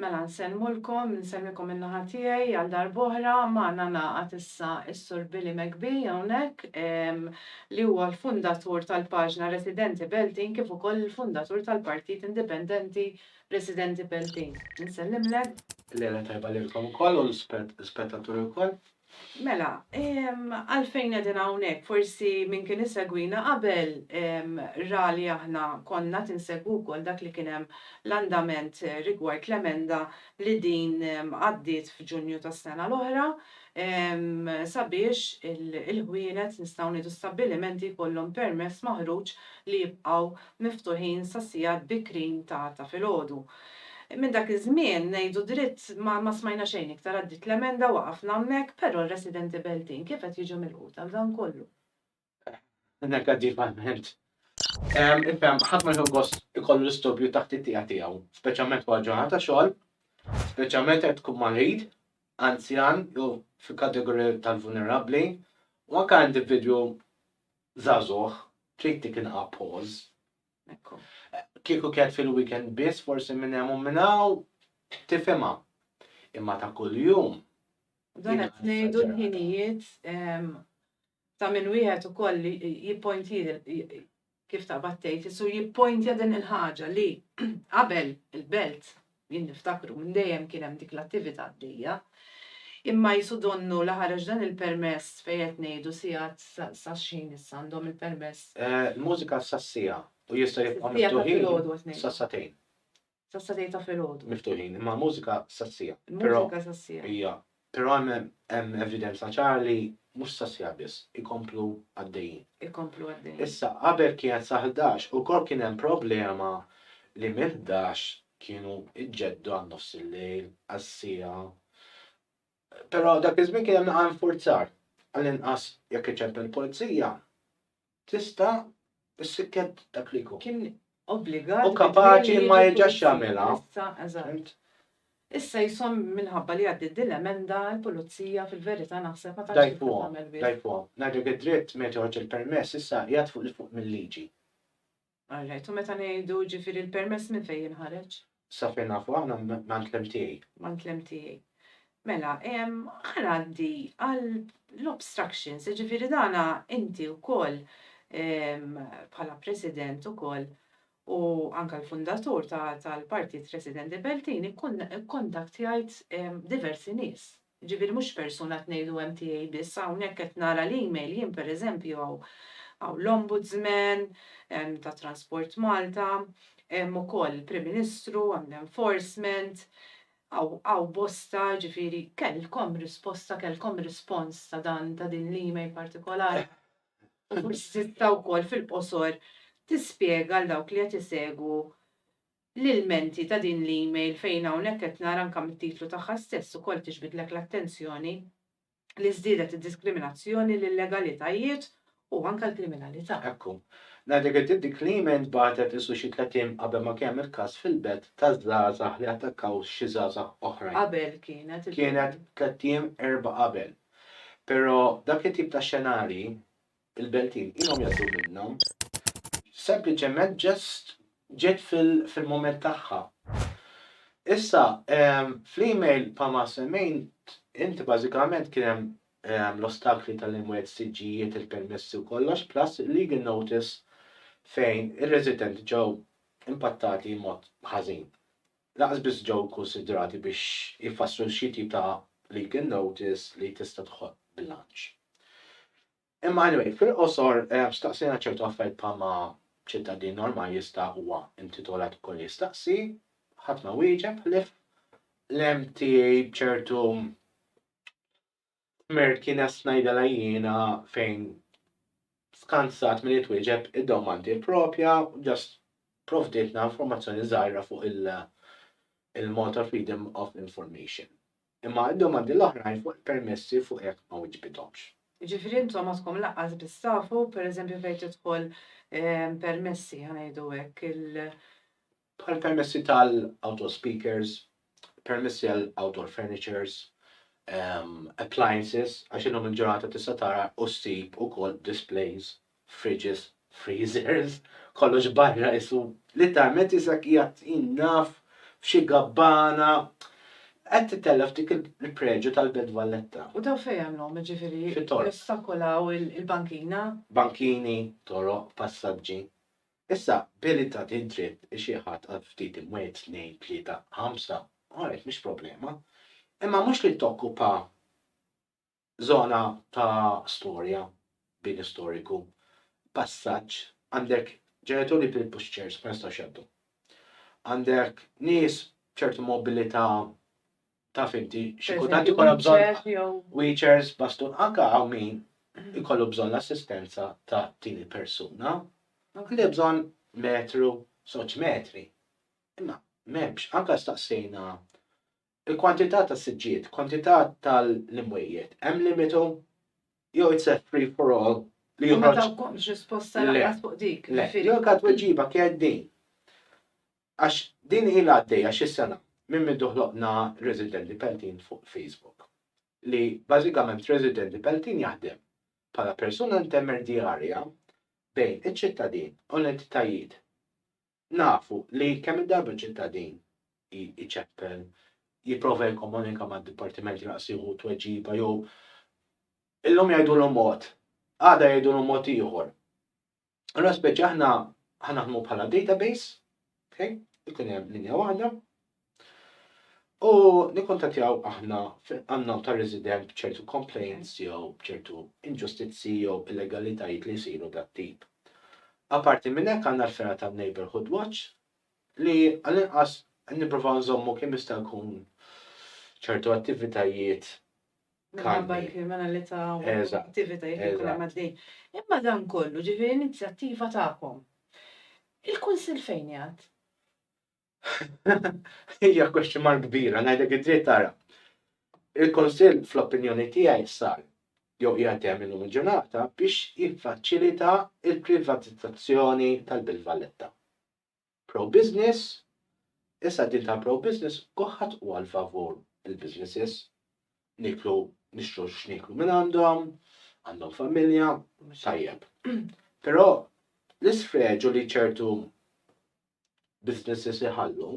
Mela nsellmulkom, insellmikom min-naħa tiegħi għal darb'oħra. Magħna ngħaqad issa s-Sur Billy McBee hawnhekk, li huwa l-fundatur tal-paġna Residenti Beltin kif ukoll il-fundatur tal-Partit Indipendenti Residenti Beltin. Insellimlek. Lejla tajba lilkom ukoll u l-ispettaturi wkoll. Mela, għalfejn qegħdin hawnhekk? Forsi min kien isegwina qabel ra li aħna konna qed insegwu wkoll dak li kien hemm l-andament rigward l-emenda li din għaddiet f'Ġunju tas-sena l-oħra sabiex il-ħwienet, nistgħu ngħidu stabbilimenti, jkollhom permess maħruġ li jibqgħu miftuħin sas-sigħat bikrin ta' filgħodu. Minn dak iż-żmien, ngħidu dritt, ma smajna xejn iktar, għaddiet l-emenda, waqafna hemmhekk, però r-residenti Beltin kif qed jiġu milquta għal dan kollu? Negattivament. Ifhem, ħadd ma jieħu gost ikollu l-istubju taħt it-tieqa tiegħu, speċjalment wara ġurnata ta' xogħol, speċjalment jekk tkun marid, anzjan jew fil-kategorija tal-vulnerabbli, u anke individwu żagħżugħ, trid dik inqapaws. Ekku. Kieku kienet fil-weekend biss forsi minn hemm u minn hawn tifhimha. Imma ta' kuljum. Dan qed ngħidu l-ħinijiet ta' minn wieħed ukoll jippointjili kif taqbad tgħid, isu jippointja din il-ħaġa li qabel il-belt Jien niftakru minn dejjem kien hemm dik l-attivita' għaddejja. Imma qisu donnu li ħareġ dan il-permess fejn qed ngħidu sigħat sa x'ħin issa għandhom il-permess? Il-mużika sas-siegħa u jistgħu jibqgħu miftuħin sas-sagħtejn. Sas-sagħtejn ta' filgħodu. Miftuħin, imma l-mużika sas-siegħa. Il-mużika sas-siegħa. Hija Però hemm evidenza ċara li mhux sas-sjaħ biss, ikomplu għaddejjin. Ikomplu għaddejjin. Issa, qabel kienet sa ħdax, ukoll kien hemm problema li minn ħdax kienu jġeddu għal nofs il-lejl, għal siegħa. Però dak iż-żmien kien hemm inqas infurzar, għall-inqas jekk iċempel il-pulizija, Tista' s-sikkett dak li jkun. Kien obbligat. U kapaċi ma jerġax jagħmilha. Issa, eżatt. Issa jisom minħabba li għaddiet din l-emenda l-pulizija fil-verità naħseb ma tantx tagħmel biss. Dajfuhom, dajfuhom. Ngħidlek id-dritt meta joħroġ il-permess issa qiegħed fuq 'il fuq mill-liġi. All right, u meta ngħidu, jiġifieri l-permess minn fejn jinħareġ? Sa fejn nafu aħna m'għand l-MTA. M'għand l-MTA. Mela, ħa ngħaddi għal l-obstructions, jiġifieri dan inti wkoll bħala President ukoll u anke l-fundatur tal-Partit Residenti Beltin ikkontaktjajt diversi nies. Jiġifieri mhux persuna qed ngħidu hemm tiegħi biss, hawnhekk qed nara l-email jien pereżempju hawn hawn l-Ombudsman, hemm ta' Transport Malta, hemm ukoll il-Prim Ministru, hemm l-Enforcement, hawn hawn bosta, jiġifieri kellkom risposta, kellkom rispons ta' dan ta' din l-email partikolari? U forsi tista' wkoll fil-qosor tispjega għal dawk li qed isegwu l-ilmenti ta' din l-email fejn hawnhekk qed nara anke mit-titlu tagħha stess ukoll tiġbidlek l-attenzjoni li żdiedet id-diskriminazzjoni, l-illegalitajiet u anke l-kriminalità. Ekku. Ngħidlek inti dik l-email ntbagħtet isu xi tliet ijiem qabel ma kien hemm il-każ fil-Belt ta' żgħażagħ li attakkaw xi żgħażagħ oħrajn. Qabel kienet. Kienet tliet ijiem, erbgħa qabel. Però dak it-tip ta' xenarji Il-beltin ilhom jgħaddu minnha. Sempliċement just ġiet fil-mument tagħha. Issa, fl-email bħalma semmejt inti bażikament kien hemm l-ostakli tal-imwiet, siġġijiet, il-permessi u kollox, plus legal notice fejn ir-residenti ġew impattati mod ħażin. Lanqas biss ġew ikkunsidrati biex jfasslu xi tip ta' legal notice li tista' toħloq bilanċ. Imma anyway, fil-qosor, staqsejna ċertu affarijiet bħalma ċittadin normali jista' huwa intitolat ukoll jistaqsi, ħadd ma wieġeb ħlief l-MTA b'ċertu Tmir kienet ngħidilha jiena fejn skansat milli twieġeb id-domandi propja u just provdietna informazzjoni żgħira fuq il-Malta Freedom of Information. Imma d-domandi l-oħrajn fuq il-permessi fuq hekk ma wiġbithomx. Jiġifieri intom għadkom lanqas biss tafu, pereżempju fejn tidħol permessi, ħa ngħidu hekk, il, bħal permessi tal-outdoor speakers, permessi għal outdoor furnitures, appliances, għax illum il-ġurnata tista' tara u ssib ukoll displays, fridges, freezers, kollox barra isu litteralment isek qiegħed naf f'xi gabbana qed titellef dik il-preġju tal-Belt Valletta. U daw fejn għamlhom ġifieri? Fit-toroq. Jostakolaw il-bankina? Bankini, toroq, passaġġi. Issa, billi ta din dritt xi ħadd għal ftit imwiet, tnejn, tlieta, ħamsa, alright, mhix problema. Imma mhux li tokkupa żona ta' storja, bini storiku, passaġġ, għandek ġenituri bil-pushchairs ma jistgħux jgħaddu. Għandek nies b'ċertu mobilità Taf inti, xi kultant ikollok bżonn wheelchairs, bastun, anke hawn min ikollu bżonn l-assistenza ta' tieni persuna, anke li bżonn metru, żewġ metri. Imma m'hemmx, anke staqsejna il-kwantità ta' siġġijiet, kwantità tal-imwejjed, hemm limitu jew it's a free for all li joħroġ. U ma tawkomx risposta lanqas fuq dik, ġifieri. L-unika tweġiba kienet din. Għax din ilha għaddejja xi sena minn mindu ħloqna Residenti Peltin fuq Facebook, li bażikament Residenti Peltin jaħdem bħala persuna intermerdjarja bejn iċ-ċittadin u l-entitajiet. Nafu li kemm il-darba ċ-ċittadin iċeppel, jipprova jikkomunika mad-dipartiment lanqas jieħu tweġiba jew illum jgħidulu mod, għada jgħidulu mod ieħor. Allora speċi aħna ħanaħdmu bħala database, okay? ikun hemm linja waħda, u nikkontattjaw aħna għannom ta' resident bċertu complaints jew bċertu inġustizzi jew illegalitajiet li jsiru dat tip. Aparti minn hekk għandna l-fera ta' Neighborhood Watch li għal-inqas nipprova nżommu kemm jista' jkun ċertu attivitajiet minħabba l-kriminalità u l-attivitajiet li jkunu għaddejjin. Imma dan kollu, ġifieri inizjattiva tagħkom. Il-Kunsill fejn jgħad? Hija question mark kbira, ngħidlek id-dritt tara. Il-Kunsill fl-opinjoni tiegħi sar jew qiegħed hemm illum il-ġurnata biex jiffaċilita l-privatizzazzjoni tal-Belt Valletta. pro-business, issa din tal-pro-business kulħadd hu għal favur il-businesses, nieklu nixtru x'nieklu minn għandhom, għandhom familja, tajjeb. Però l-isfreġu li ċertu businesses iħallu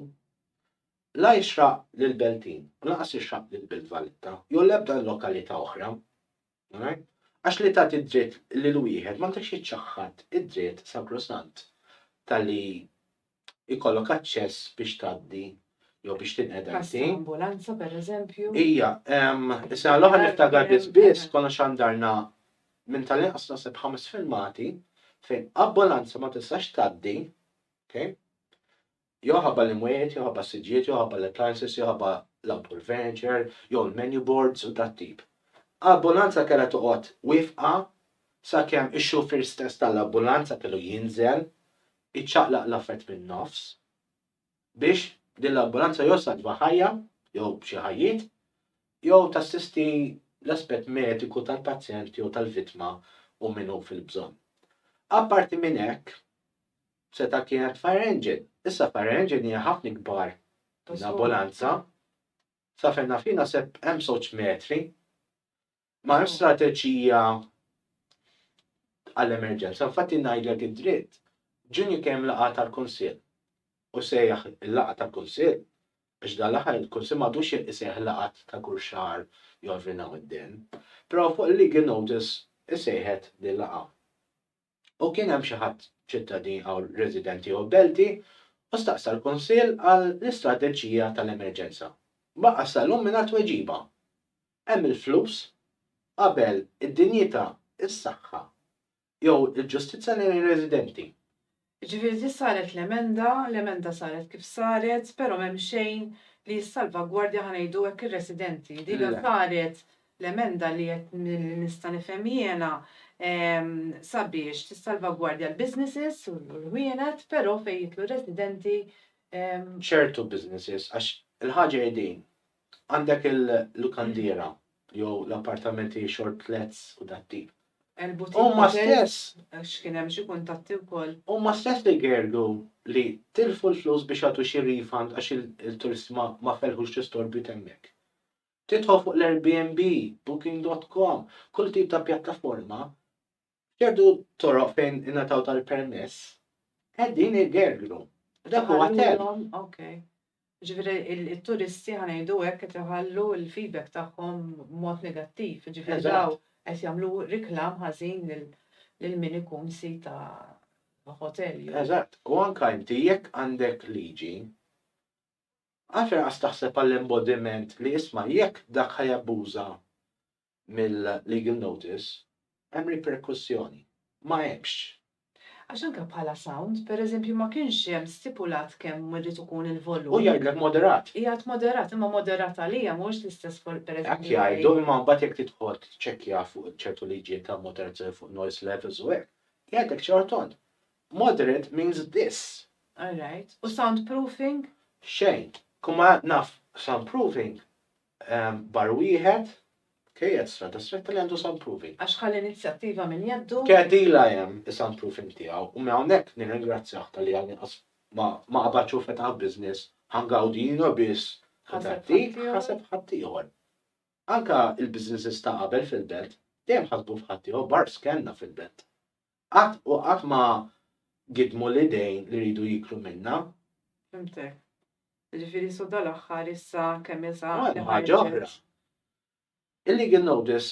la jixraq lill-Beltin, lanqas jixraq lill-Belt Valletta, jew l-ebda lokalità oħra. Għax li tagħti d-dritt lil wieħed ma tridx iċċaħħad id-dritt sagrosant ta' li jkollok aċċess biex tgħaddi jew biex tinqeda inti. Każ ta' ambulanza, pereżempju. Ija, is-sena l-oħra niftakar biss biss konna xandarna minn tal-inqas naħseb ħames filmati fejn ambulanza ma tistax tgħaddi, ok, Jew iħabba l-imwiet, jew iħabba s-siġġiet, jew iħabba l-appliances, jew iħabba l-outdoor furniture, jew il-menu boards u dat-tip. Ambulanza kellha toqgħod wifqa sakemm ix-xufier stess tal-ambulanza kellu jinżel, iċċaqlaq l-affett min-nofs, biex din l-ambulanza jew ssalva ħajja, jew xi ħajjiet, jew tassisti l-aspett mediku tal-pazjent jew tal-vittma u min hu fil-bżonn. Apparti minn hekk, Seta' kienet fire engine. Issa fire engine hija ħafna ikbar minn ambulanza. Sa fejn naf jien naħseb hemm żewġ metri. Ma hemm strateġija għall-emerġenza. Infatti ngħidlek id-dritt, ġunju kemm laqgħa tal-Kunsill. U sejjaħ il-laqgħa tal-Kunsill, għax dan l-aħħar il-Kunsill m'għadux isejjaħ laqgħat ta' kull xahar jew every now and then. Però fuq il-legal notice isejħet din laqgħa. u kien hemm xi ħadd ċittadin aw resident jew belti u staqsa l-Kunsill għal l-istrateġija tal-emerġenza. Baqa' sal-lum mingħajr tweġiba. Hemm il-flus qabel id-dinjità, is-saħħa jew il-ġustizzja lejn ir-residenti. Jiġifieri ġiet saret l-emenda, l-emenda saret kif saret, però m'hemm xejn li jissalvagwardja ħa ngħidu hekk ir-residenti. Dina saret L-emenda li qed li nista' nifhem jiena sabiex tissalvagwardja l-businesses u l-ħwienet però fejn jidħlu r-residenti ehm. Ċertu businesses għax il-ħaġa hi din, għandek il-lukandiera jew l-appartamenti short lets u dat-tip. Huma stess. Għax kien hemm xi kuntatti wkoll. Huma stess li jgergru li tilfu l-flus biex jagħtu xi refund għax il-turisti ma felħux l-istorbju t'hemmhekk. Tidħol fuq l-Airbnb, Booking dot com, kull tip ta' pjattaforma, f'ċertu toroq fejn ingħataw tal-permess, qegħdin igergru. Dak huwa Iħalluhom, ok. Ġifieri it-turisti ħa ngħidu hekk qed iħallu l-feedback tagħhom b'mod negattiv, ġifieri dawn qed jagħmlu reklam ħażin lil min ikun sid ta' ħotel jew. Eżatt, u anke inti jekk għandek liġi Għalfejn lanqas taħseb għall-embodiment li isma' jekk dak ħa jabbuża mill-legal notice, hemm riperkussjoni. Ma hemmx. Għax anke bħala sound, per eżempju, ma kienx hemm stipulat kemm irid ikun il-volum. Hu jgħidlek moderat. Jgħid moderat, imma moderat għalija mhuwiex l-istess bħal per eżempju. Hekk jgħidu, imma mbagħad jekk tidħol tiċċekkja fuq ċertu liġijiet ta' moderazzjoni fuq noise levels u hekk, jgħidlek ċar tont. Moderate means this. All right. U soundproofing? Xejn. Kull ma naf soundproofing, bar wieħed, kej qed strada stretta li għandu soundproofing. Għax ħa l-inizjattiva minn jeddu. Kedila hemm is-soundproofing tiegħu u minn hawnhekk nirringrazzjah talli għadni qas ma ma qabadx u fetaħ business, ħa ngawdi jiena biss u ta' dik ħaseb ħaddieħor. Anke il-businesses ta' qabel fil-belt dejjem ħasbu f'ħaddieħor bars kellna fil-belt. Qatt u qatt ma gidmu l-idejn li jridu jiklu minna. Fhimtek. Jiġifieri so dal-aħħar issa kemm il sa li ħarġet. Il-legal notice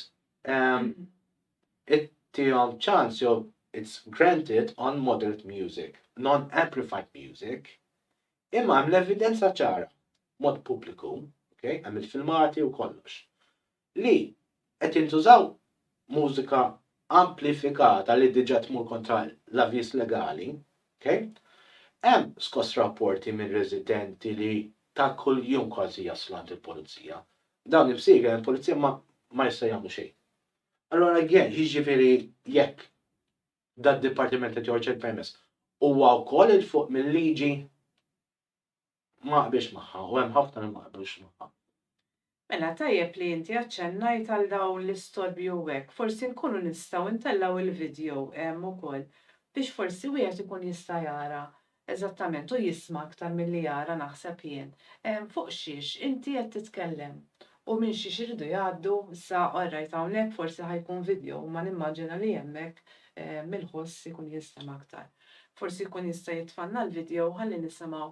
ittihom ċans jew it's granted on moderate music, non-amplified music, imma hemm l-evidenza ċara, mod pubbliku, hemm il-filmati u kollox. li qed jintużaw mużika amplifikata li diġà tmur kontra l-avviż legali, ok? Hemm skoss rapporti minn residenti li ta' kuljum kważi jaslu għand il-pulizija. Dawn imsieħba il-pulizija ma ma jistgħu jagħmlu xejn. Allura again, jiġifieri jekk dad-dipartiment qed joħroġ il-permess huwa wkoll 'il fuq mil-liġi? Ma naqbilx magħha u hemm ħafna li ma jaqblux magħha. Mela tajjeb li inti aċċennajt għal dawn l-istorbji u hekk, forsi nkunu nistgħu ntellgħu il-video hemm ukoll biex forsi wieħed ikun jista' jara eżattament u jisma' aktar milli jara naħseb jien fuq xiex inti qed titkellem u minn xiex iridu jgħaddu issa orrajt hawnhekk forsi ħa jkun video imma nimmaġina li hemmhekk il-ħoss ikun jinstema' aktar. Forsi jkun jista' jitfgħalna l-video ħalli nisimgħu.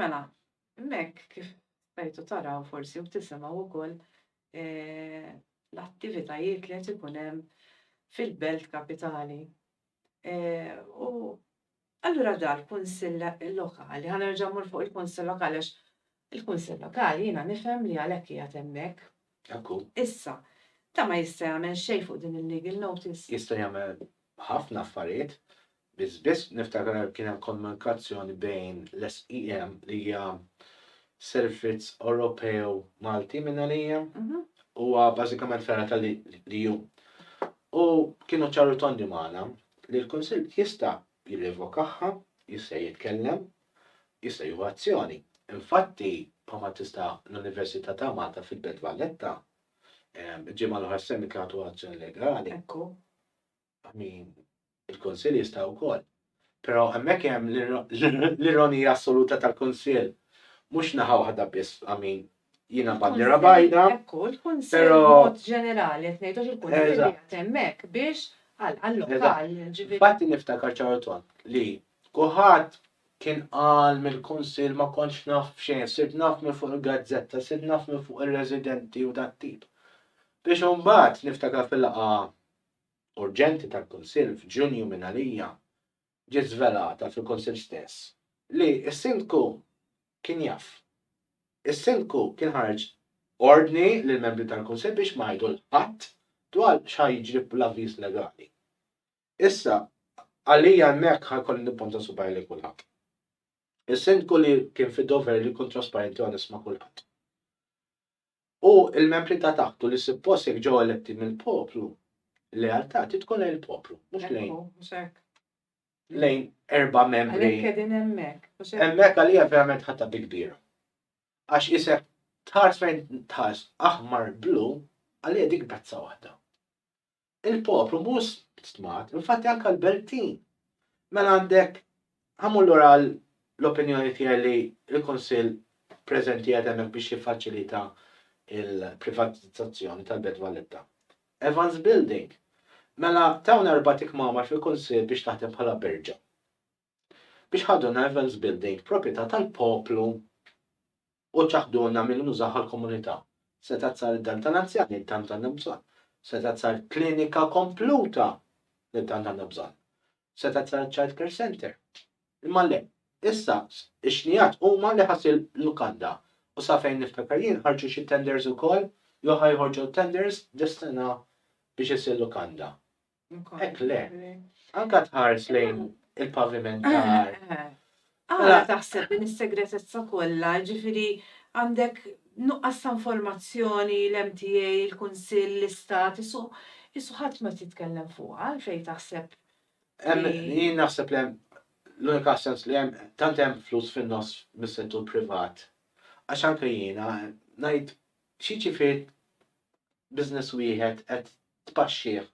Mela, hemmhekk kif stajtu taraw forsi u tisimgħu wkoll eh, l-attivitajiet li qed ikun hemm fil-belt kapitali. Eh, u allura dal kunsill lokali, ħanerġa' mmur fuq il-kunsill lokali għax Il-Kunsill Lokali jiena nifhem li għalhekk qiegħed hemmhekk. Hekk hu. Issa, dan ma jista' jagħmel xejn fuq din il-legal notice. Jista' jagħmel ħafna affarijiet. Biss biss niftakar kien hemm komunikazzjoni bejn l-SEM li hija Servizz Ewropew Malti minn għalija, huwa bażikament fergħa tal-EU. U kienu ċari u tondi magħna li l-Kunsill jista' jirrevokahha, jista' jitkellem jista' jieħu azzjoni. Infatti, bħalma tista' l-Università ta' Malta fil-Belt Valletta, il-ġimgħa l-oħra semmi kienet ħadu azzjoni legali. Ekku, min il-Kunsill jista' wkoll. Però hemmhekk hemm l-ironija assoluta tal-Kunsill. Mhux naħa waħda biss, amin, jiena bandira bajda. Ekku, tkun sejra mod ġenerali, qed ngħidux il-punt li qed hemmhekk biex għal għall-lokal. Fatti niftakar ċaru tont li kuħadd kien qal mill-kunsill ma kontx naf f'xejn, sirt naf minn fuq il-gazzetta, sirt naf minn fuq ir-residenti u dat tip. Biex imbagħad niftakar fil-laqa urġenti tal-kunsill f'Ġunju minn għalija ġiet żvelata fil-Kunsill stess li s-Sindku kien jaf. Is-Sindku kien ħareġ ordni lill-membri tal-Kunsill biex ma jgħidu 'l ħadd dwar x'ħa jiġri bl-avviż legali. Issa, għalija hemmhekk ħa jkolli nipponta subgħajja lejn kulħadd. Is-Sindku li kien fid-dover li jkun trasparenti u onest ma' kulħadd. u l-membri ta' taħt u li suppost jekk ġew eletti mill-poplu, l-lealtà trid tkun lejn il-poplu, mhux lejn. Ekku, mhux hekk. Lejn erba' membri. Għalhekk qegħdin hemmhekk. mhux hekk? Hemmhekk għalija verament ħadta bi kbira. Għax isek tħares fejn tħares aħmar blu għalija dik pezza waħda. il-poplu mhux stmat, infatti anke l-Beltin. Mela għandek ħamur lura l-opinjoni tiegħi li l-Kunsill preżenti qed hemmhekk biex jiffaċilita il-privatizzazzjoni tal-Belt Valletta. Evans Building. Mela tawna erbat ikmamar fil-Kunsill biex taħdem bħala berġa. biex ħaduna Evans Building, proprjetà tal-poplu u ċaħduna milli nużawha l-komunità. Setgħet sar id-dar tal-anzjani li tant għandna bżonn. Setgħet sar klinika kompluta li tant għandna bżonn. Setgħet sar iċ-child care center. Imma le, issa x-xnijat huma li ħass il-lukanda u sa fejn niftakar jien ħarġu xi tenders ukoll jew ħa joħorġu tenders dis-sena biex issir lukanda. Hekk le. Anka tħares lejn il-paviment eh, tar. Eh. Għala mela- taħseb din is-segretezza kollha, ġifieri għandek nuqqas ta' informazzjoni l-MTA, il-Kunsill, l-Istat, isu isu ħadd ma titkellem fuq għalfejn taħseb. Jien naħseb li l-unika sens li hemm tant hemm flus fin-nofs mis-settur privat. Għax anke jiena ngħid xi ġifier business wieħed qed tpaxxih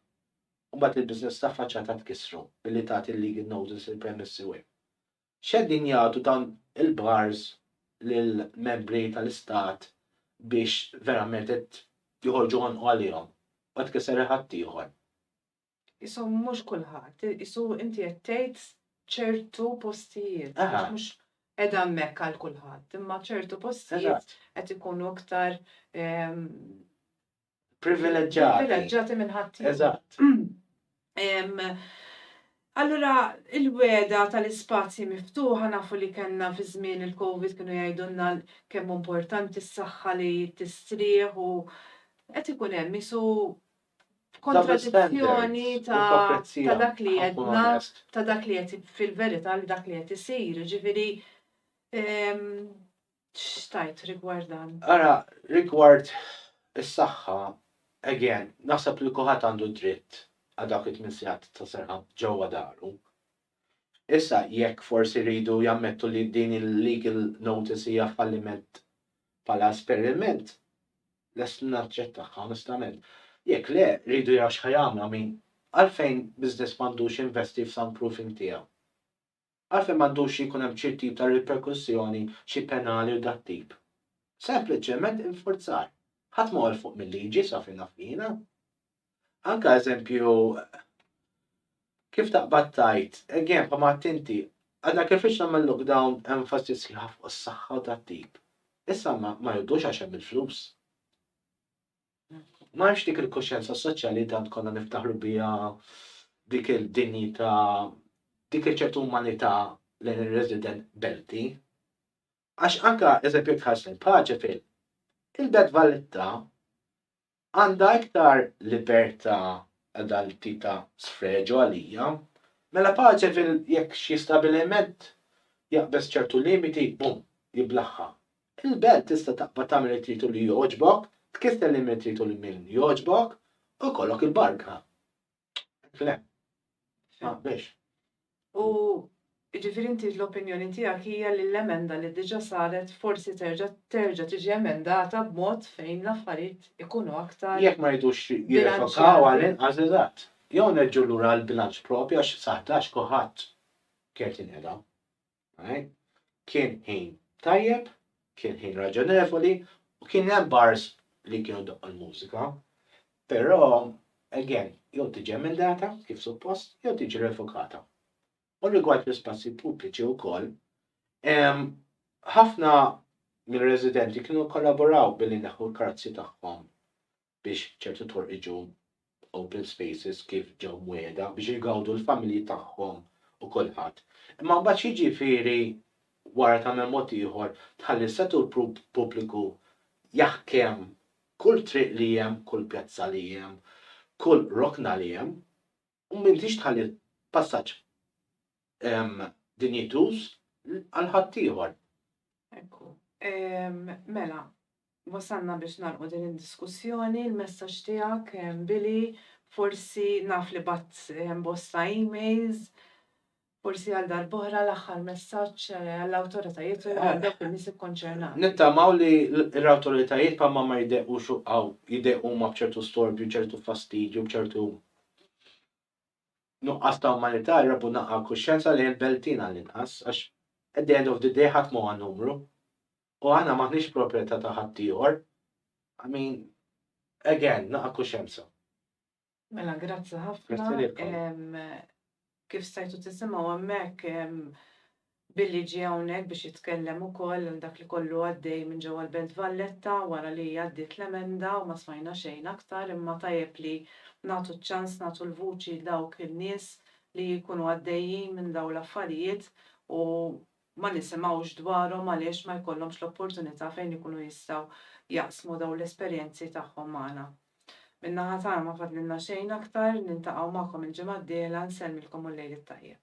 u mbagħad il-business ta' faċċata tkissru billi tagħti l-legal notice il-premessi u. X'qegħdin jagħtu dawn il-bars lill-membri tal-istat biex verament qed joħorġu għonqu għalihom u qed tkisser il-ħatt ieħor. Qisu mhux kulħadd, qisu inti qed tgħid ċertu postijiet għax mhux qiegħda hemmhekk għal kulħadd, imma ċertu postijiet qed ikunu iktar privileġġati. Privileġġati minn ħadd. Eżatt. Allura il-weda tal-ispazji miftuħa nafu li kellna fi żmien il-COVID kienu jgħidulna kemm importanti s-saħħa li tistrieħ u qed ikun hemm isu kontradizzjoni ta' dak li għedna ta' dak li qed fil-verità li dak li qed isir. Ġifieri X'tajt rigward dan? Ara, rigward is-saħħa, again, naħseb li kulħadd għandu d-dritt għal dawk it-tmien sigħat ta' serħa ġewwa daru. Issa jekk forsi jridu jammettu li din il-legal notice hija falliment bħala esperiment, lest naċċettaha onestament. Jekk le, jridu jaraw x'ħajamlu, I mean, għalfejn business m'għandux jinvesti f'soundproofing tiegħu? għalfejn m'għandux jkun hemm xi tip ta' riperkussjoni, xi penali u dat-tip. Sempliċement infurzar. Ħadd m'hu 'l fuq mil-liġi sa fejn naf jiena. Anke eżempju kif taqbad tgħid, again bħalma għedt inti, għadna kif ix nagħmel lockdown enfasi sħiħa fuq is-saħħa u dat-tip. Issa ma jgħoddux għax hemm il-flus. M'hemmx dik il-kuxjenza soċjali li tant konna niftaħru biha, dik id-dinjità, dik iċ-ċertu umanità lejn ir-resident Belti. Għax anke eżempju jekk tħares lejn Paċefil, il-Belt Valletta għandha iktar libertà għal dan it-tip ta' sfreġu għalija. Mela Paċefil jekk xi stabiliment jaqbeż ċertu limiti, bum, jiblaħħa. Il-belt tista' taqbad tagħmel li trid u li jogħġbok, tkisser lil min trid u lil min jogħġbok, u jkollok il-barka. Hekk le? Ma biex. U jiġifieri inti l-opinjoni tiegħek hija li l-emenda li diġà saret forsi terġa' terġa' tiġi emendata b'mod fejn l-affarijiet ikunu aktar. Jekk ma jridux jirrevokaw għall-inqas eżatt. Jew nerġgħu lura għall-bilanċ proprju għax sa ħdax kulħadd kert jinqeda. Kien ħin tajjeb, kien ħin raġonevoli u kien hemm bars li kienu doqqu l-mużika. Però, again, jew tiġi emendata kif suppost, jew tiġi revokata. U rigward l-ispazji pubbliċi wkoll, ħafna mir-residenti kienu kollaboraw billi neħu l-karozzi tagħhom biex ċertu toroq jiġu open spaces kif ġew mwiegħda biex igawdu l-familji tagħhom u kulħadd. Imma mbagħad x'jiġifieri wara tagħmel mod ieħor tħalli s-settur pubbliku jaħkem kull triq li hemm, kull pjazza li hemm, kull rokna li hemm? u m'intix tħalli l-passaġġ dinjituż għal ħaddieħor. Ekku. Mela, wasalna biex nagħlqu din id-diskussjoni, il-messaġġ tiegħek, Billy, forsi naf li bgħatt bosta emails, Forsi għal darb'oħra l-aħħar messaġġ għall-awtoritajiet u għal dawk in-nies ikkonċernati. Nittamaw li l-awtoritajiet bħalma ma jdeqqux hawn, jdeqqu huma b'ċertu storbju, ċertu fastidju, b'ċertu nuqqas ta' umanità, jrabbu naqra l-kuxjenza lejn il-beltin għall-inqas, għax at the end of the day ħadd m'huwa numru. U aħna m'aħniex proprjetà ta' ħaddieħor. I mean, again, naqra kuxjenza. Mela grazzi ħafna. Kif stajtu tisimgħu hemmhekk Billy ġie hawnhekk biex jitkellem ukoll għal dak li kollu għaddej minn ġewwa l-Belt Valletta wara li għaddiet l-emenda u ma smajna xejn aktar imma tajjeb li nagħtu ċ-ċans nagħtu l-vuċi dawk in-nies li jkunu għaddejjin minn dawn l-affarijiet u ma nisimgħux dwarhom għaliex ma jkollhomx l-opportunità fejn ikunu jistgħu jaqsmu dawn l-esperjenzi tagħhom magħna. Min-naħa tagħna ma fadlilna xejn aktar, niltaqgħu magħkom il-ġimgħa d-dieħla, nsellmilkom u l-Lejl it-Tajjeb.